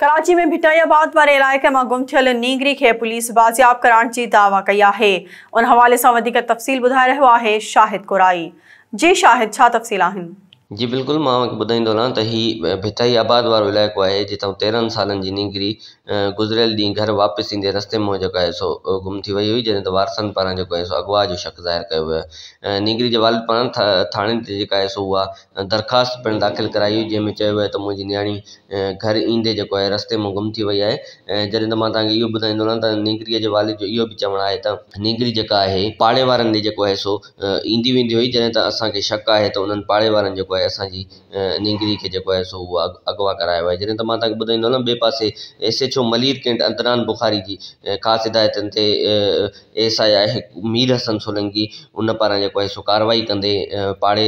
Karachi ۾ Bhittaiabad واري علائقي مان گم ٿيل نينگري کي پوليس بازياب ڪرائڻ جي دعويٰ ڪئي آهي، ان حوالي سان وڌيڪ تفصيل ٻڌائي رهيو آهي شاهد ڪورائي، جي شاهد ڇا تفصيل آهن؟ جي بلڪل مان اوهان کي ٻڌائيندو هلان ته هي ڀٽائي آباد وارو علائقو آهي جتان تيرهن سالن جي نينگري گذريل ڏينهن گهر واپس ايندي رستي منهن جيڪو آهي سو گم ٿي وئي هئي جڏهن ته وارثن پاران جيڪو آهي سو اغوا جو شڪ ظاهر ڪيو ويو آهي نينگري جي والد پاران ٿاڻي تي جيڪا آهي سو اها درخواست پڻ داخل ڪرائي هئي جنهن ۾ چيو ويو آهي ته منهنجي نياڻي گهر ايندي جيڪو آهي رستي مان گم ٿي وئي آهي ۽ جڏهن ته مان توهان کي اهو ٻڌائيندو رهان ته نينگريء جي والد جو اهو به چوڻ آهي ته نينگري جيڪا آهي پاڙي وارن ڏي جيڪو آهي سو ايندي ويندي هئي جڏهن ته اسان کي شڪ آهي ته انهن پاڙي وارن جيڪو آهي اسان جي نينگري کي جيڪو آهي سو اهو اغوا ڪرايو آهي جڏهن ته مان توهان کي ٻڌائيندو هلان ٻئي پاسي S H O Malir cantt Adnan Bukhari جي خاص هدايتن تي S I I Mir Hassan Solangi ان پاران جيڪو آهي سو ڪارروائي ڪندي پاڙي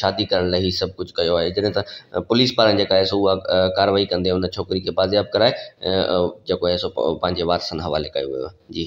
شادي ڪرڻ لاء هي سڀ ڪجهه ڪيو آهي جڏهن ته پوليس پاران جيڪا آهي سو اها ڪارروائي ڪندي ان ڇوڪري کي بازياب ڪرائي جيڪو آهي سو پنهنجي وارثن حوالي ڪيو ويو آهي جي.